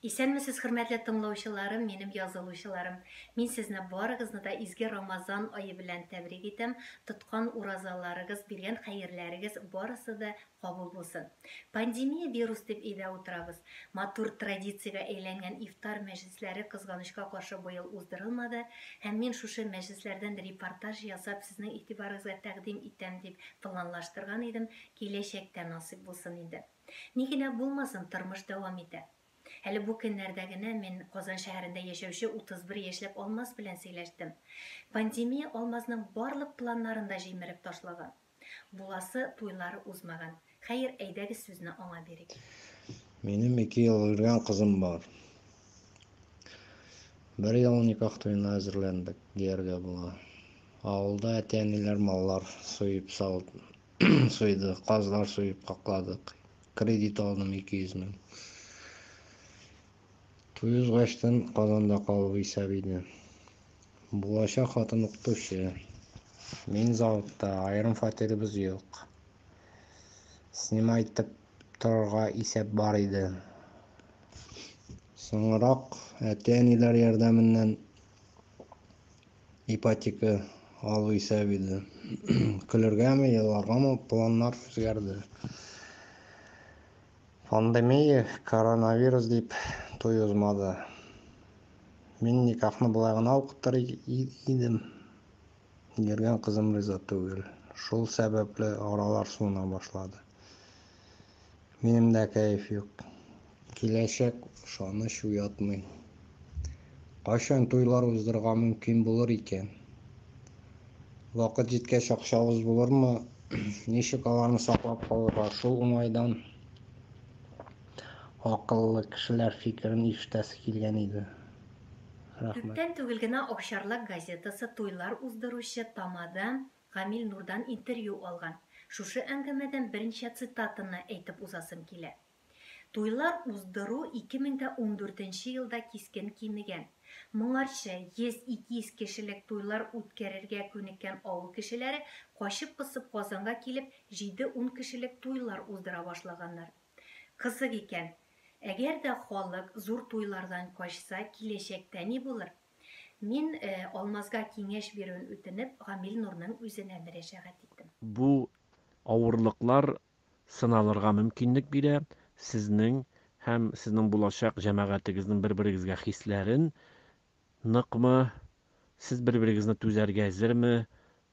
Исәнмесез хөрмәтле тыңлаучыларым, минем язылучыларым. Мин сезне барыгызны да изге Рамазан ае белән тәбрик итәм. Тоткан уразаларыгыз, биргән хәерләрегез барысы да кабул булсын. Пандемия вирус дип өйдә утырабыз. Матур традициягә әйләнгән ифтар мәҗлесләре кызганычка каршы быел уздырылмады, һәм мин шушы мәҗлесләрдән репортаж ясап сезнең игътибарыгызга тәкъдим итәм дип планлаштырган идем, киләчәктә насыйп булсын инде. Ни генә булмасын, тормыш дәвам итә. Әле бу көннәрдә генә мин Казан шәһәрендә яшәүче 31 яшьлек Алмаз белән сөйләштем. Пандемия Алмазның барлык планнарын да җимереп ташлаган. Буласы туйлар узмаган. Хәер, әйдәгез сүзне аңа бирик. Минем ике ел өлгән кызым бар. Бер ел никах туена әзерләндек, дияргә була. Авылда әти-әниләр маллар суеп сал сыйды, казлар суеп какладык. Кредит алдым 200 мең. Туй узгачтан Казанда калу исәп иде. Булачак хатын укытучы. Мин заводта, аерым фатирыбыз юк. Снимай итеп торырга исәп бар иде. Соңрак әти-әниләр ярдәменнән Ипотека алу исәп иде. Көлергәме, еларгамы планнар үзгәрде. Пандемия, коронавирус дип туй узмады. Мин никахны болай гына укытыр идем. Йөргән кызым риза түгел. Шул сәбәпле аралар суына башлады. Минем дә кәеф юк. Киләчәк ышаныч уятмый. Кайчан туйлар уздырырга мөмкин булыр икән? Вакыт җиткәч акчабыз булырмы? Ничек аларны саклап калырга? Шул уңайдан акыллы кешеләр фикерен ишетәсе килгән иде. Рәхмәт. Күптән түгел генә Овчарлак газетасы туйлар уздыручы тамада Камил Нурдан интервью алган. Шушы әңгәмәдән берничә цитатаны әйтеп узасым килә. Туйлар уздыру 2014 нче елда кискен кимегән. Моңарчы 100-200 кешелек туйлар үткәрергә күнеккән авыл кешеләре качып-посып Казанга килеп, җиде-ун кешелек туйлар уздыра башлаганнар. Кызык икән. Әгәр дә халык зур туйлардан качса, киләчәктә ни булыр? Мин, Алмазга киңәш бирүен үтенеп, Гамил Нурның үзенә мөрәҗәгать иттем. Бу авырлыклар сыналырга мөмкинлек бирә, сезнең һәм сезнең булачак җәмәгатегезнең бер-берегезгә хисләрен, ныкмы, сез бер-берегезне түзәргә әзерме,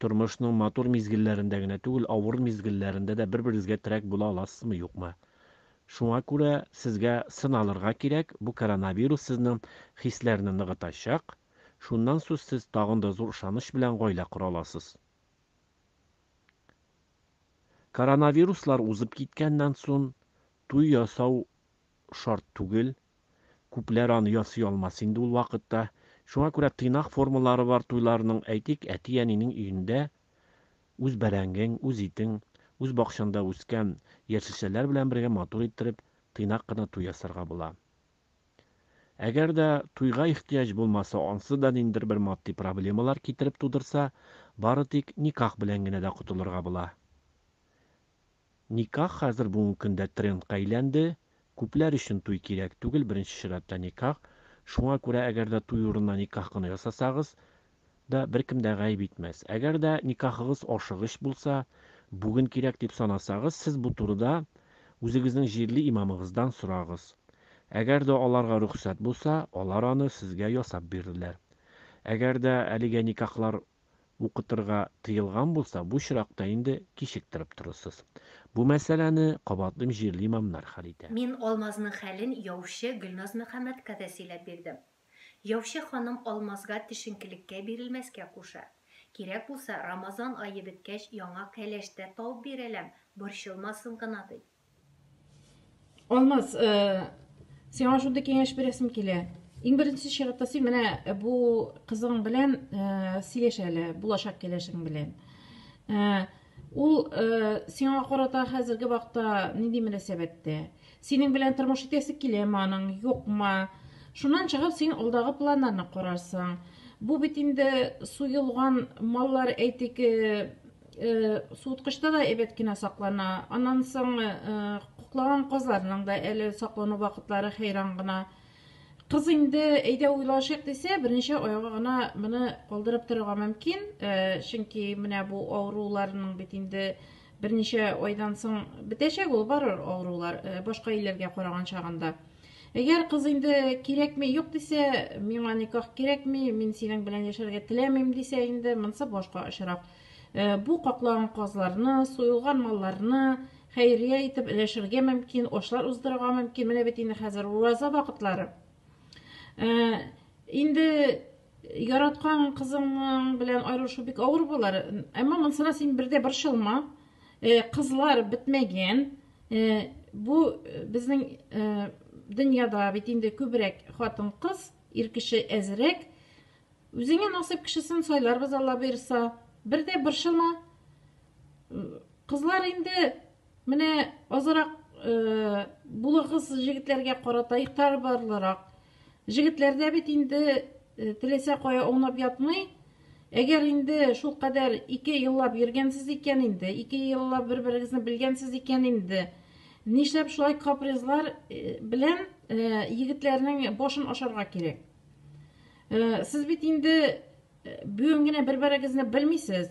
Тормышның матур мизгелләрендә генә түгел, авыр мизгелләрендә дә бер-берегезгә терәк була аласызмы, юкмы? Шуңа күрә сезгә сыналырга кирәк, бу коронавирус сезнең хисләрне ныгытачак, шуннан сус сез тагын да зур ышаныч белән гаилә кора аласыз. Коронавируслар узып киткәннән сон туй ясау шарт түгел. Күпләр аны ясый алмас инде ул вакытта. Шуңа күрә тыйнак формалары бар туйларның, әйтик, әти-әнинең өендә үз бәрәңгең, үз итең, үз бакчаңда үскән яшелчәләр белән бергә матур иттереп, тыйнак кына туй ясарга була. Әгәр дә туйга ихтыяҗ булмаса, ансыз да ниндидер бер матди проблемалар китереп тудырса, бары тик никах белән генә дә котылырга була. Никах хәзер бүгенге көндә трендка әйләнде. Күпләр өчен туй кирәк түгел, беренче чиратта никах. Шуңа күрә әгәр дә туй урынына никах кына ясасагыз да, беркем дә гаеп итмәс. Әгәр дә никахыгыз ашыгыч булса, бүген кирәк дип санасагыз, сез бу турыда үзегезнең җирле имамыгыздан сорагыз. Әгәр дә аларга рөхсәт булса, алар аны сезгә ясап бирерләр. Әгәр дә әлегә никахлар укытырга тыелган булса, бу очракта инде кичектереп торырсыз. Бу мәсьәләне, кабатлыйм, җирле имамнар хәл итә. Мин Алмазның хәлен яучы Гөлназ Мөхәммәдкә дә сөйләп бирдем. Яучы ханым Алмазга төшенкелеккә бирелмәскә куша. Кирәк булса, Рамазан ае беткәч яңа кәләш тә табып бирәләм, борчылмасын гына, ди. Алмаз, э, сиңа шундый киңәш бирәсем килә. Иң беренче чиратта син менә э, бу кызың белән э, сөйләш әле, булачак киләшең белән. Э, ул сиңа карата хәзерге вакытта нинди мөнәсәбәттә? Синең белән тормыш итәсе киләме аның, юкмы? Шуннан чыгып син алдагы планнарны карарсың. Бу бит инде суелган маллар, әйтик, Э, суыткычта да әйбәт кенә саклана аннан соң э, куклаган казларның да әле саклану вакытлары хәйран гына кыз инде әйдә уйлашыйк дисә берничә айга гына моны калдырып торырга мөмкин э, чөнки менә бу авыруларның бит инде берничә айдан соң бетәчәк ул барыр авырулар башка илләргә караган чагында Әгәр кыз инде кирәкми, юк дисә, миңа никах кирәкми, мин синең белән яшәргә теләмим дисә инде, монсы башка очрак. Э, бу каклаган казларны, суелган малларны хәйрия итеп өләшергә мөмкин, ашлар уздырырга мөмкин. Менә бит инде хәзер ураза вакытлары. Э, инде Яраткан кызыңның белән аерылышу бик авыр булар. Әмма монсына син бердә борчылма. Э, кызлар бетмәгән. Э, бу э, безнең дөньяда бит инде күбрәк хатын-кыз, ир кеше әзрәк. Үзеңә насыйп кешесен сайларбыз Алла бирса. Бердә борчылма. Кызлар инде Менә азрак э, булыгыз җегетләргә карата игътибарлырак. Җегетләрдә бит инде э, теләсә кая аунап ятмый. Әгәр инде шул кадәр ике еллап йөргәнсез икән инде, ике еллап бер-берегезне белгәнсез икән инде, нишләп шулай капризлар э, белән э, егетләрнең башын ашарга кирәк? Э, сез бит инде э, бүген генә бер-берегезне белмисез.